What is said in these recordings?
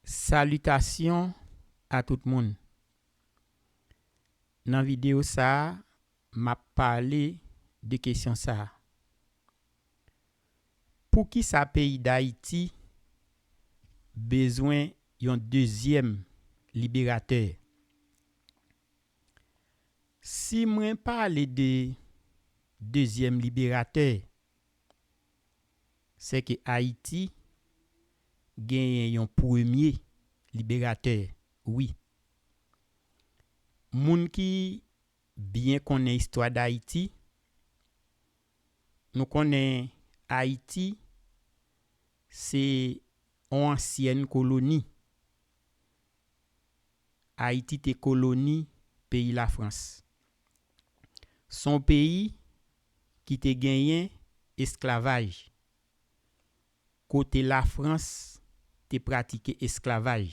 Salitasyon a tout moun! Nan videyo sa a, m ap pale de kesyon sa a, Poukisa peyi Dayiti bezwen yon dezyèm liberatè? Si mwen pale de dezyèm liberatè, sè ke Ayiti genyen yon premye liberatè wi. Moun ki byen konnen istwa Dayiti, nou konnen Ayiti se yon ansyèn koloni. Ayiti te koloni peyi Lafrans. Son peyi ki te genyen esklavaj. Kote lafrans te pratike esklavaj.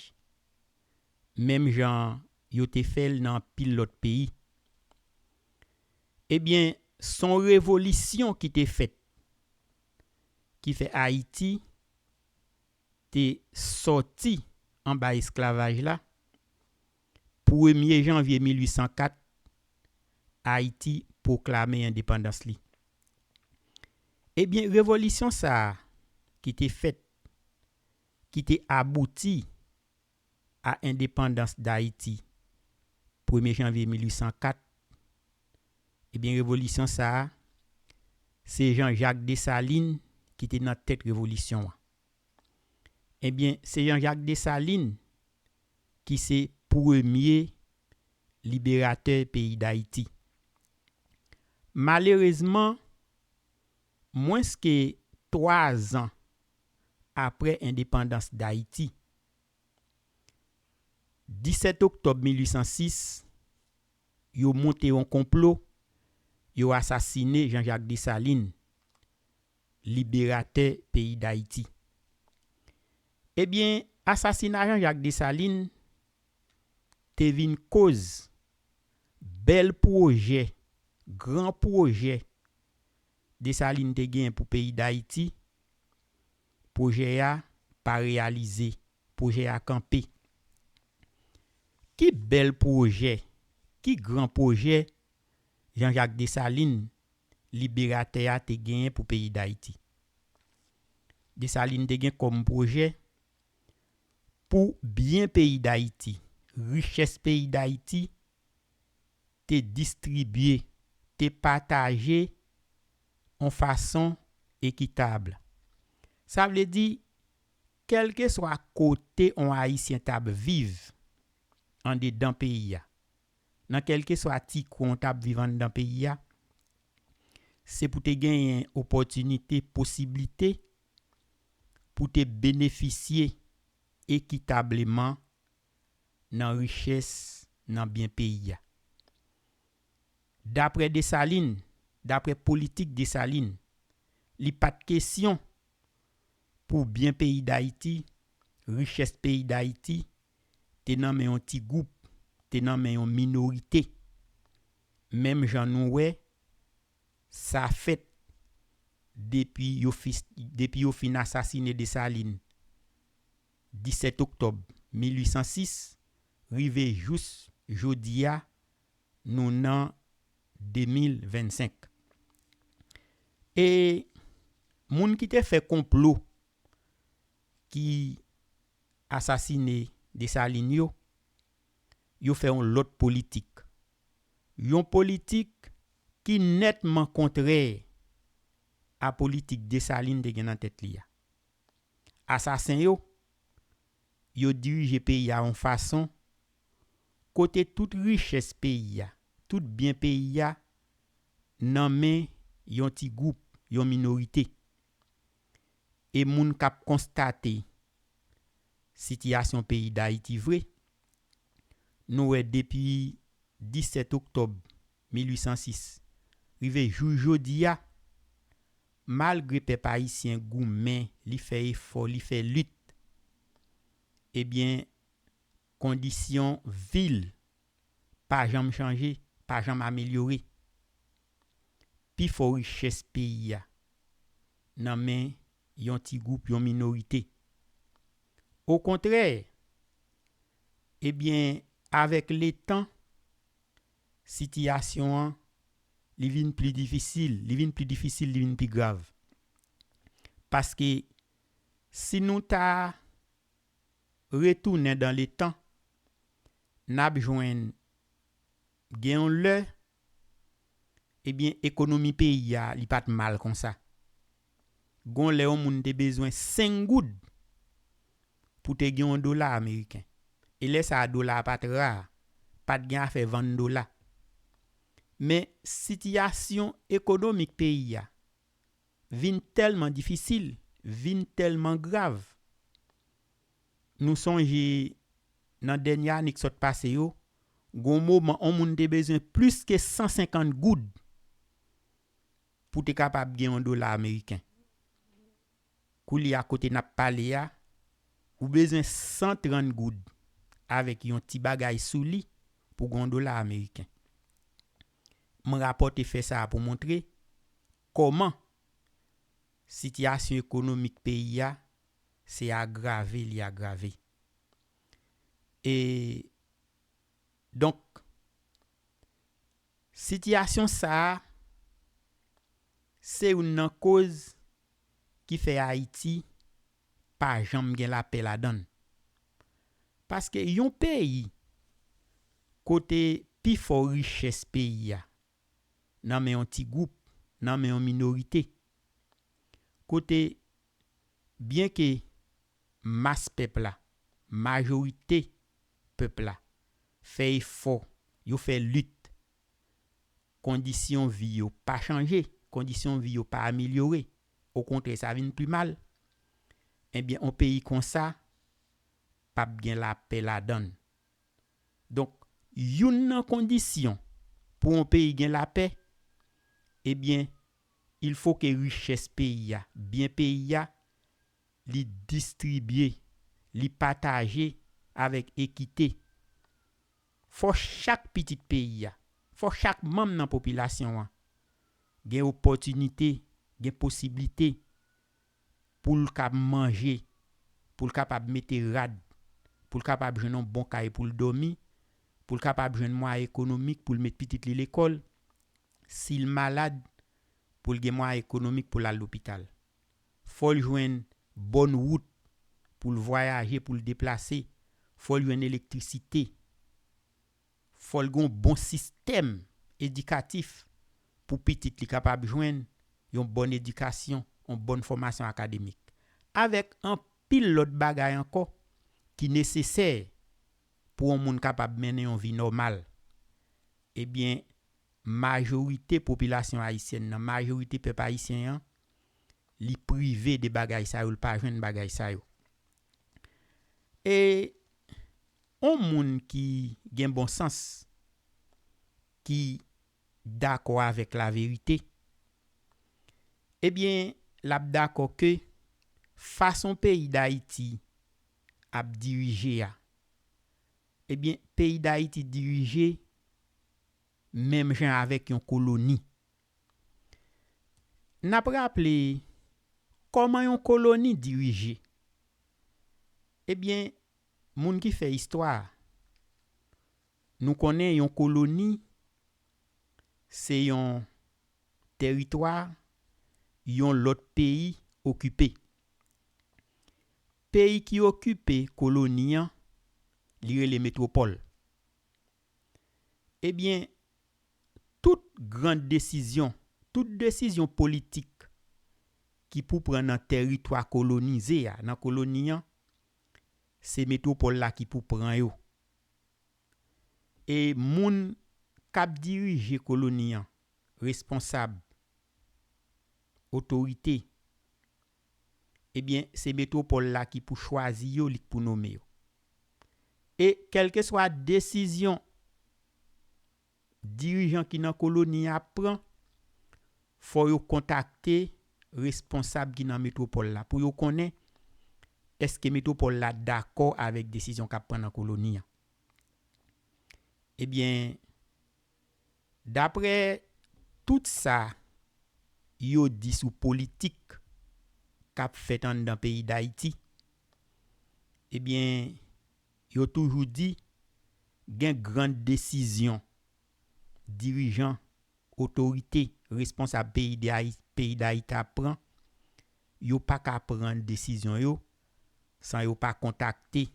Menm jan yo te fèl nan anpil lòt peyi. Ebyen son revolisyon ki te fèt. Ki fè ayiti te sòti anba esklavaj la. Premye janvye 1804, Ayiti pwoklame endepandans li. Ebyen, revolisyon sa a ki te fèt, ki te abouti a endepandans Dayiti premye janvye 1804, ebyen revolisyon sa a, se Jan Jak Desalin ki te nan tèt revolisyon an. Ebyen, se Jan Jak Desalin ki se premye liberatè peyi Dayiti. Malerezman, mwens ke 3 zan apre endepandans Dayiti, 17 oktòb 1806, yo moute yon konplo, yo asasine Jean-Jacques Dessalines, liberatè peyi Dayiti. Ebyen asasina Jean Jacques Dessalines te vin koz bèl pwojè, gran pwojè Dessalines te genyen pou peyi Dayiti, pwojè a pa reyalize, pwojè a kanpe. Ki bèl pwojè, ki gran pwojè Jean Jacques Dessalines liberatè a te genyen pou peyi Dayiti. Desalin te gen kòm pwojè pou byen peyi Dayiti, richès peyi Dayiti te distribye, te pataje yon fason ekitab. Sa vle di, kèlkeswa kote yon Ayisyen t ap viv andedan peyi a, nan kèlkeswa ti kwen w t ap viv anndan peyi a, se pou te genyen opòtinite, posiblite pou te benefisye ekitableman nan richès, nan byen peyi a. Daprè Desalin, daprè politik Desalin, li pa t kesyon pou byen peyi Dayiti, richès peyi Dayiti, te nan men yon ti gwoup, te nan men yon minorite. Menm jan nou wè, sa fèt depi yo depi yo fin asasine Desalin 17 oktòb 1806 rive jous jodi a nou nan 2025. E moun ki te fè konplo ki asasine Desalin yo, yo fè yon lòt politik. Yon politik ki nètman kontrè a politik Desalin te gen nan tèt li a. Asasen yo, yo dirije peyi a yon fason kote tout richès peyi a, tout byen peyi a nan men yon ti gwoup, yon minorite. E moun k ap konstate sitiyasyon peyi Dayiti vre, nou wè depi 17 oktòb 1806 rive jou jodi a, malgre pèp ayisyen goumen, li fè efò, li fè lit, ebyen kondisyon vi l pa janm chanje, pa janm amelyore. Pi fò richès peyi a nan men yon ti gwoup, yon minorite. Okontrè, ebyen avèk letan, sitiyasyon an li vin pli difisil, li vin pli difisil, li vin pi grav. Paske si nou ta. retounen dan le tan, n ap jwenn gen yon lè, ebyen ekonomi peyi a li pa t mal konsa. Gon lè yon moun te bezwen 5 goud pou te gen yon dola ameriken. E lè sa a dola a pa t ra, pa t gen afè vann dola. Men sitiyasyon ekonomik peyi a. Vin tèlman difisil, vin tèlman grav. Nou sonje nan dènye ane k sot pase yo, gon moman on moun te bezwen plis ke 150 goud pou te kapab gen on dola ameriken. Koulye a kote nap pale a, ou bezwen 130 goud avèk yon ti bagay sou li pou gon dola ameriken. M rapòte fè sa a pou montre Kòman? Sitiyasyon ekonomik peyi a se agrave li agrave. E donk sitiyasyon sa a se youn nan koz ki fè Ayiti pa janm gen lapè ladan l. Paske yon peyi kote pifò richès peyi a nan men yon ti gwoup, nan men yon minorite. Kote byen ke mas pèp la, majorite pèp la fè efò, yo fè lit, kondisyon vi yo pa chanje, kondisyon vi yo pa amelyore, okontrè sa vin pi mal, enbyen yon peyi konsa pap gen lapè ladan l. Donk youn nan kondisyon pou yon peyi gen lapè ebyen il fo ke richès peyi a, byen peyi a li distribye, li pataje avèk ekite. Fò chak pitit peyi a, fò chak manm nan popilasyon an gen opòtinite, gen posiblite pou l ka manje, pou l kapab mete rad, pou l kapab jwenn yon bon kay pou l dòmi, pou l kapab jwenn mwayen ekonomik pou l met pitit li lekòl, si l malad, pou l gen mwayen ekonomik pou l al lopital. Fò l jwenn bòn wout pou l vwayaje, pou l deplase, fò l jwenn elektrisite. Fòl gen yon bon sistèm edikatif pou pitit li kapab jwenn yon bòn edikasyon, yon bòn fòmasyon akademik. Avèk anpil lòt bagay ankò ki nesesè pou yon moun kapab mennen yon vi nòmal. Ebyen majorite popilasyon ayisyèn nan, majorite pèp ayisyen an, li prive de bagay sa yo, li pa jwenn bagay sa yo. E on moun ki gen bon sans, ki dakò avèk laverite, ebyen l ap dakò ke fason peyi Dayiti ap dirije a, ebyen peyi Dayiti dirije menm jan avèk yon koloni. N ap raple kòman yon koloni dirije. Ebyen, moun ki fè istwa, nou konnen yon koloni se yon teritwa yon lòt peyi okipe. Peyi ki okipe koloni an, li rele metwopòl. Ebyen, tout gran desizyon, tout desizyon politik ki pou pran nan tèritwa kolonize a, nan koloni an, se metwopòl la ki pou pran yo. E moun k ap dirije koloni an, responsab, otorite, ebyen se metwopòl la ki pou chwazi yo, li k pou nome yo. E kèlkeswa desizyon dirijan ki nan koloni a ap pran, fò yo kontakte responsab ki nan metwopòl la pou yo konnen èske metwopòl la dakò avèk desizyon k ap pran nan koloni a. Ebyen, Daprè tout sa yo di sou politik k ap fèt anndan peyi Dayiti, ebyen yo toujou di gen gran desizyon dirijan, otorite, responsab peyi Dayiti ap pran, yo pa ka pran desizyon yo san yo pa kontakte.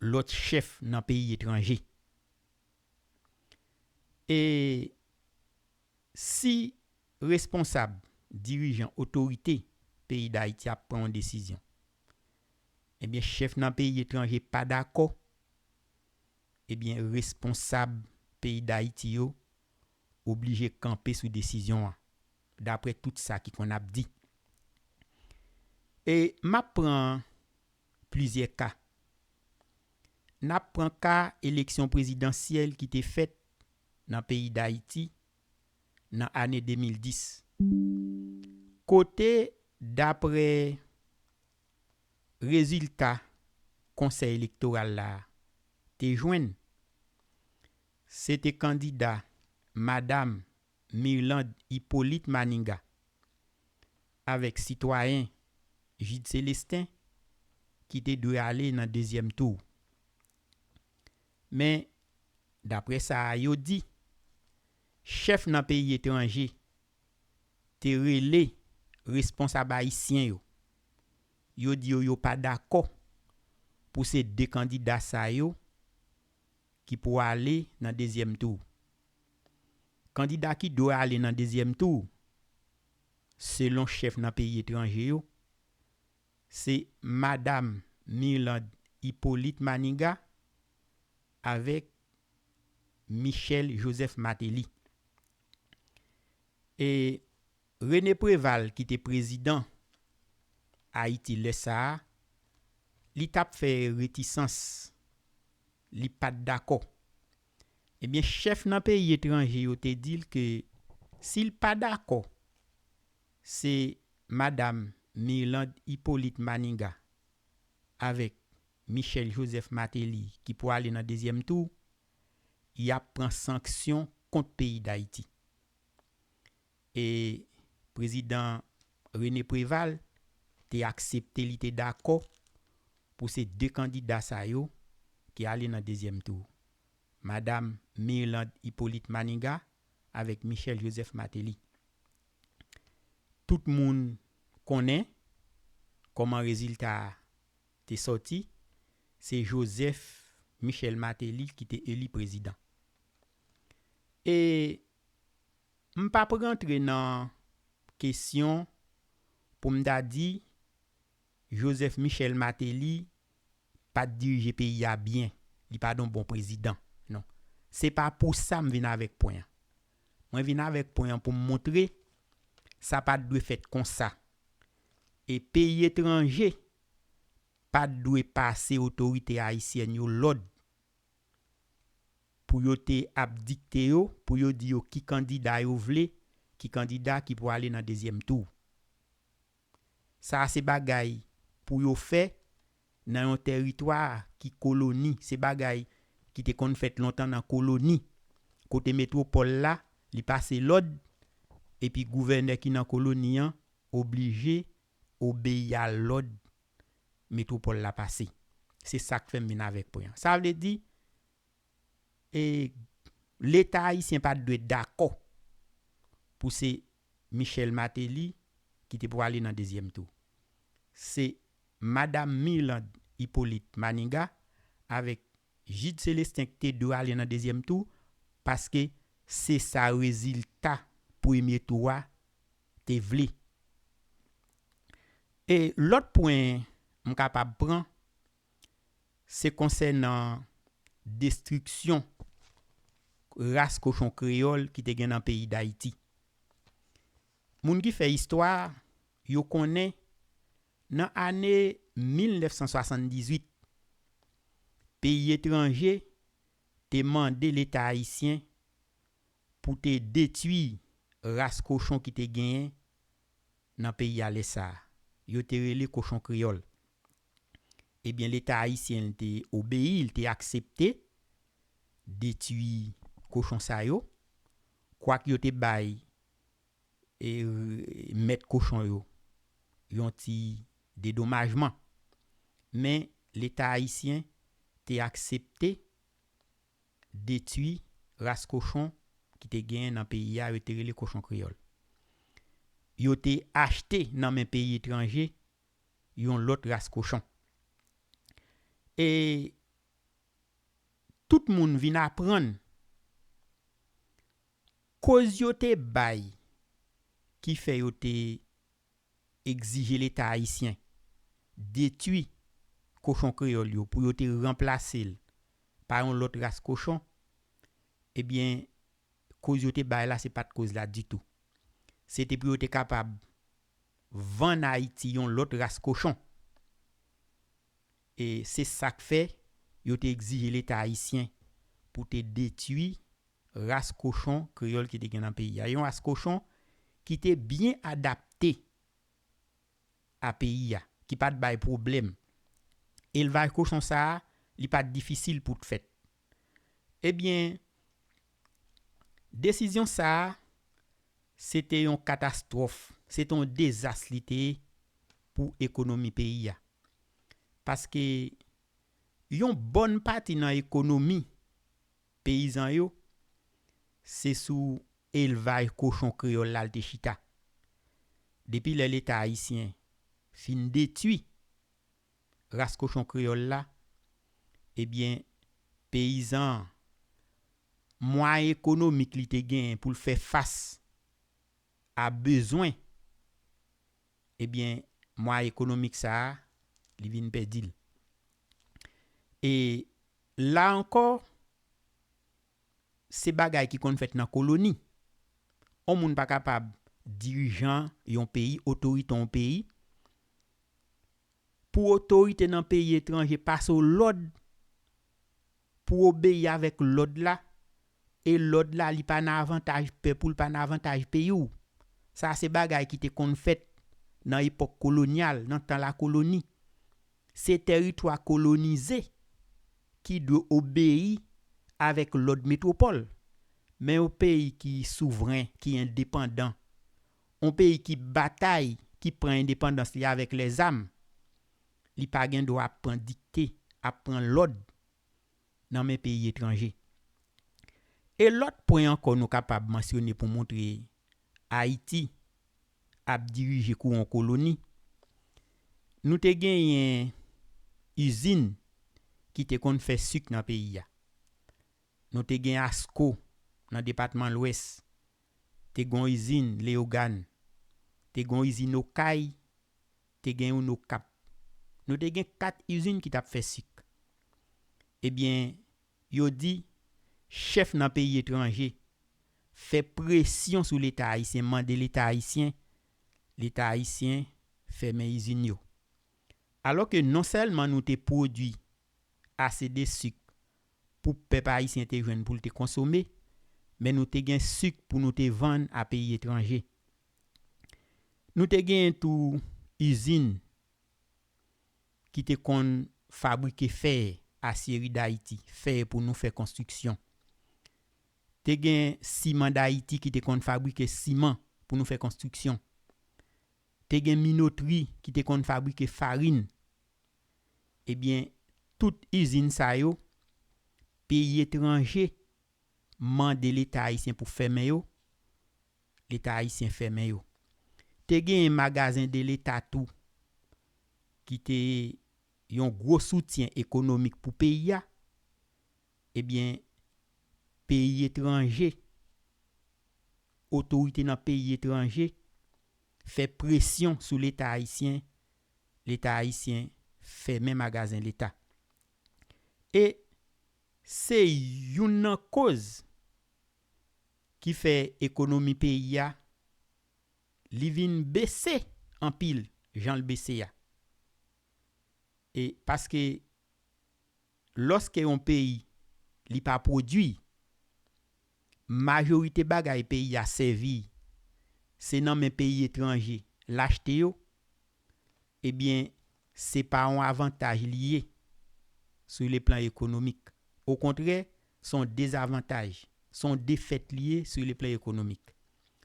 lòt chèf nan peyi etranje. E si responsab, dirijan, otorite peyi Dayiti ap pran yon desizyon, ebyen chèf nan peyi etranje pa dakò, ebyen responsab peyi Dayiti yo oblije kanpe sou desizyon an, daprè tout sa ki konn ap di. E m ap pran plizyè ka. N ap pran ka eleksyon prezidansyèl ki te fèt nan peyi Dayiti nan ane 2010, kote dapre rezilta Konsèy Elektoral la te jwenn, se te kandida Madam Mirlande Hyppolite Manigat avèk sitwayen Gide Celestin ki te dwe ale nan dezyèm tou. Men, daprè sa a yo di, chèf nan peyi etranje te rele responsab ayisyen yo, yo di yo yo pa dakò pou se 2 kandida sa yo ki pou ale nan dezyèm tou. Kandida ki dwe ale nan dezyèm tou, selon chèf nan peyi etranje yo, se Madam Mirlande Hyppolite Maniga avèk Michel Joseph Martelly. E René Préval ki te prezidan Ayiti lè sa a, li t ap fè retisans, li pa t dakò Ebyen chèf nan peyi etranje yo te dil ke sil pa dakò se madam Mirlande Hyppolite Maniga avèk Michel Joseph Martelly ki pou ale nan dezyèm tou, yap pran sanksyon kont peyi Dayiti. e prezidan René Préval te aksepte li te dakò pou se 2 kandida sa yo ki ale nan dezyèm tou, Madam Mirlande Hyppolite Maniga avèk Michel Joseph Martelly. Tout moun konnen kòman rezilta a te sòti, se Joseph Michel Martelly ki te eli prezidan. E M pa p rantre nan kesyon pou m ta di Joseph Michel Martelly pa t dirije peyi a byen, li pa t yon bon prezidan. Non. Se pa pou sa m vin avèk pwen an. Mwen vin avèk pwen an pou m montre sa pa t dwe fèt konsa. E peyi etranje pa t dwe pase otorite ayisyèn yo lòd pou yo te ap dikte yo, pou yo di yo ki kandida yo vle, ki kandida ki pou ale nan dezyèm tou. Sa a se bagay pou yo fè nan yon tèritwa ki koloni, se bagay ki te konn fèt lontan nan koloni, kote metwopòl la, li pase lòd, epi gouvènè ki nan koloni an oblije obeyi a lòd metwopòl la pase. Se sa k fè m vin avèk pwen an. Sa vle di, Leta ayisyen pa t dwe dakò pou se Michel Martelly ki te pou ale nan dezyèm tou. Se Madam Mirlande Hyppolite Maniga avèk Jude Celestin ki te dwe ale nan dezyèm tou paske se sa rezilta premye tou a te vle. E lòt pwen m kapab pran, se konsènan destriksyon ras kochon kreyòl ki te gen nan peyi Dayiti. Moun ki fè istwa, yo konnen nan ane 1978, peyi etranje te mande Leta ayisyen pou te detui ras kochon ki te genyen nan peyi a lè sa a. Yo te rele kochon kreyòl. Ebyen leta ayisyen l te obeyi, l te aksepte detui kochon sa yo, kwak yo te bay mèt kochon yo yon ti dedomajman. Men leta ayisyen te aksepte detui ras kochon ki te genyen nan peyi a yo te rele kochon kreyòl. Yo te achte nan men peyi etranje yon lòt ras kochon. E tout moun vin aprann koz yo te bay ki fè yo te egzije leta ayisyen detui kochon kreyòl yo pou yo te ranplase l pa yon lòt ras kochon, ebyen koz yo te bay la se pa t koz la ditou. Se te pou yo te kapab vann Ayiti yon lòt ras kochon. E se sa k fè yo te egzije leta ayisyen pou te detui ras kochon kreyòl ki te gen nan peyi a. Yon ras kochon ki te byen adapte a peyi a, ki pa t bay pwoblèm. Elvaj kochon sa a, li pa t difisil pou t fèt. Ebyen, desizyon sa a, se te yon katastwòf, se te yon dezas li te ye pou ekonomi peyi a. Paske, yon bòn pati nan ekonomi Peyizan yo, se sou elvaj kochon kreyòl la l te chita. Depi lè Leta ayisyen fin detui ras kochon kreyòl la, ebyen peyizan an, mwayen ekonomik li te genyen pou l fè fas a bezwen, ebyen mwayen ekonomik sa a, li vin pèdi l. E La ankò, se bagay ki konn fèt nan koloni. On moun pa kapab dirijan yon peyi, otorite yon peyi, pou otorite nan peyi etranje pase w lòd pou w obeyi avèk lòd la, e lòd la li pa nan avantaj pèp ou, li pa nan avantaj peyi w. Sa se bagay ki te konn fèt nan epòk kolonyal, nan tan lakoloni. Se tèritwa kolonize ki dwe obeyi avèk lòd metwopòl. Men yon peyi ki souvren, ki endepandan, yon peyi ki batay, ki pran endepandans li avèk lèzam, li pa gen dwa ap pran dikte, ap pran lòd nan men peyi etranje. E lòt pwen ankò nou kapab mansyone pou montre Ayiti ap dirije kou on koloni, nou te genyen izin ki te konn fè suk nan peyi a. Nou te gen ASCO nan depatman Lwès. te gon izin Leyogàn, te gon izin Okay, te gen youn Okap. Nou te gen 4 izin ki t ap fè sik. Ebyen, yo di, chèf nan peyi etranje fè presyon sou Leta Ayisyen, mande Leta Ayisyen, Leta Ayisyen fèmen izin yo. Alò ke non sèlman nou te pwodui ase de sik pou pèp ayisyen te jwenn pou l te konsome, men nou te gen suk pou nou te vann a peyi etranje. Nou te genyen tou izin ki te konn fabrike fè, asyeri Dayiti, fè pou nou fè konstriksyon. Te gen siman Dayiti ki te konn fabrike siman pou nou fè konstriksyon. Te gen minotri ki te konn fabrike farin. Ebyen tout izin sa yo peyi etranje mande leta ayisyen pou fèmen yo, leta ayisyen fèmen yo. Te genyen magazen de leta tou ki te yon gwo soutyen ekonomik pou peyi a, ebyen peyi etranje, otorite nan peyi etranje fè presyon sou leta ayisyen leta ayisyen fèmen magazen leta e se youn nan koz ki fè ekonomi peyi a li vin bese anpil jan l bese a e paske Lòske yon peyi li pa pwodui, majorite bagay peyi a sèvi se nan men peyi etranje l achte yo, ebyen se pa yon avantaj li ye sou le plan ekonomik. Okontrè, s on dezavantaj, s on defèt li ye sou le plan ekonomik.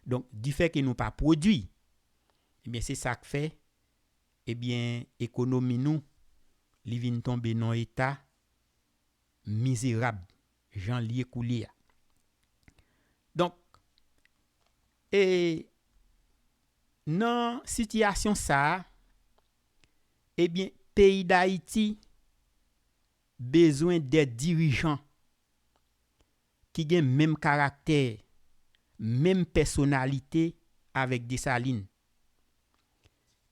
Donk, difèke nou pa pwodui, ebyen se sa k fè Ebyen ekonomi nou li vin tonbe non eta mizerab janl ye koulye a. Donk e nan sitiyasyon sa ebyen peyi dayiti bezwen de dirijan ki gen menm karaktè, menm pèsonalite avèk Desalin.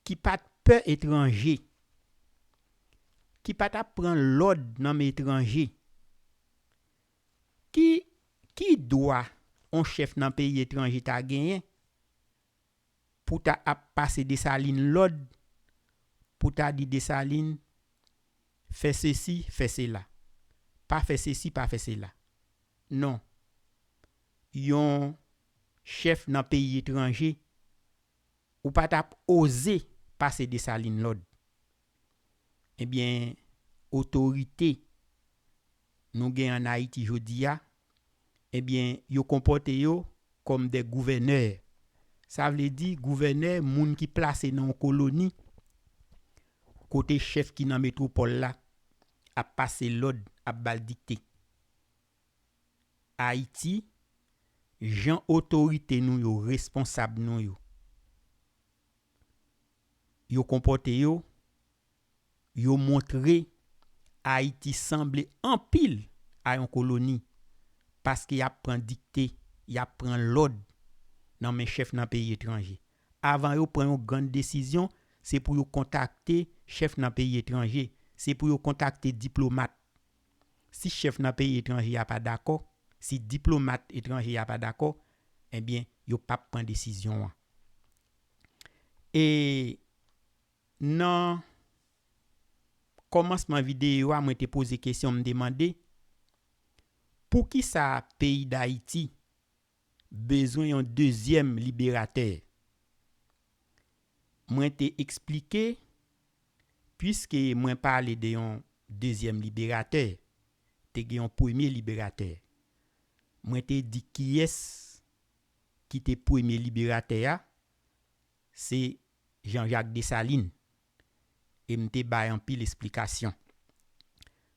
Ki pa t pè etranje. Ki pa t ap pran lòd nan men etranje. Ki ki dwa on chèf nan peyi etranje ta genyen pou ta ap pase Desalin lòd pou ta di Desalin fè sesi, fè sela. Pa fè sesi, pa fè sela. Non. Yon chèf nan peyi etranje ou pa tap oze pase Dessalines lòd. Ebyen otorite nou gen an Ayiti jodi a, ebyen yo konpòte yo kòm dè gouvènè. Sa vle di gouvènè moun ki plase nan yon koloni kote chèf ki nan metwopòl la ap pase lòd, ap ba l dikte. Ayiti, jan otorite nou yo, responsab nou yo, yo konpòte yo, yo montre Ayiti sanble anpil a yon koloni paske y ap pran dikte, y ap pran lòd nan men chèf nan peyi etranje. Avan yo pran yon grann desizyon, se pou yo kontakte chèf nan peyi etranje, se pou yo kontakte diplomat Si chèf nan peyi etranje a pa dakò, si diplomat etranje a pa dakò, ebyen yo p ap pran desizyon an. E nan kòmansman videyo a mwen te poze kesyon m te mande, poukisa peyi Dayiti bezwen yon dezyèm liberatè. Mwen te eksplike, piske mwen pale de yon dezyèm liberatè, te gen yon premye liberatè. Mwen te di kiyès ki te premye liberatè a, se Jean Jacques Dessalines, e m te bay anpil esplikasyon.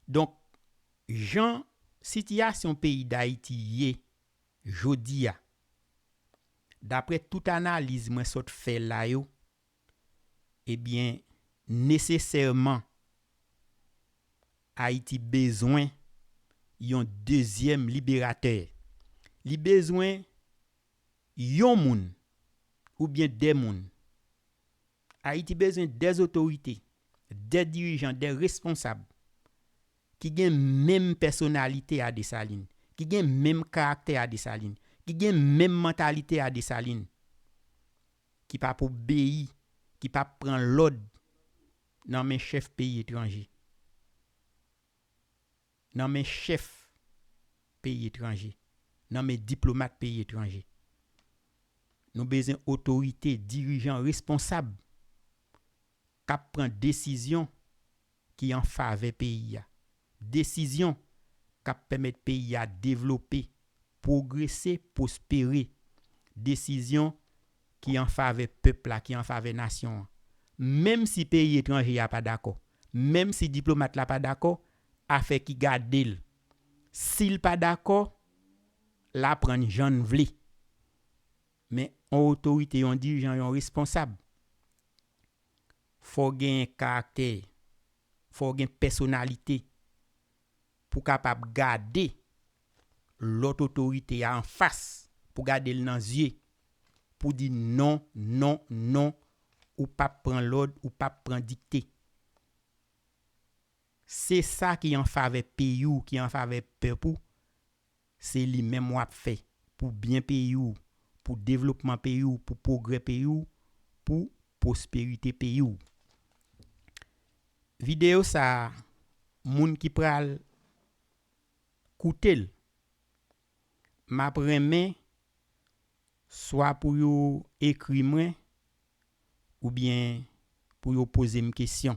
Donk, jan sitiyasyon peyi Dayiti ye Jodiya, daprè tout analiz mwen sot fè la yo, ebyen nesesèman Ayiti bezwen yon dezyèm liberatè. Li bezwen yon moun oubyen de moun. Ayiti bezwen de zotorite, de dirijan, de responsab ki gen menm pèsonalite a Desalin, ki gen menm karaktè a Desalin, ki gen menm mantalite a Desalin, ki pa p obeyi, ki pa p pran lòd nan men chèf peyi etranje, nan men chèf peyi etranje, nan men diplomat peyi etranje. Nou bezwen otorite, dirijan responsab. k ap pran desizyon ki an favè peyi a, desizyon k ap pèmèt peyi a devlope, pwogrese, pwospere, desizyon ki an favè pèp la, ki an favè nasyon an. Menm si peyi etranje a pa dakò, menm si diplomat la pa dakò, afè ki gade l, si l pa dakò, l aprann jan l vle. Men yon otorite, yon dirijan, yon responsab, fò w genyen karaktè, fò w gen pèsonalite pou w kapab gade lòt otorite a anfas, pou w gade l nan zye, pou w di non, non, non, ou p ap pran lòd, ou p ap pran dikte. Se sa ki anfavè peyi w, ki anfavè pèp ou, Se li menm wap fè pou byen peyi w, pou devlopman peyi w, pou pwogrè peyi w, pou pwosperite peyi w. Videyo sa a moun ki pral koute l map renmen swa pou yo ekri mwen oubyen pou yo poze m kesyon.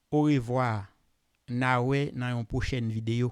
Orevwa na wè nan yon pwochèn video.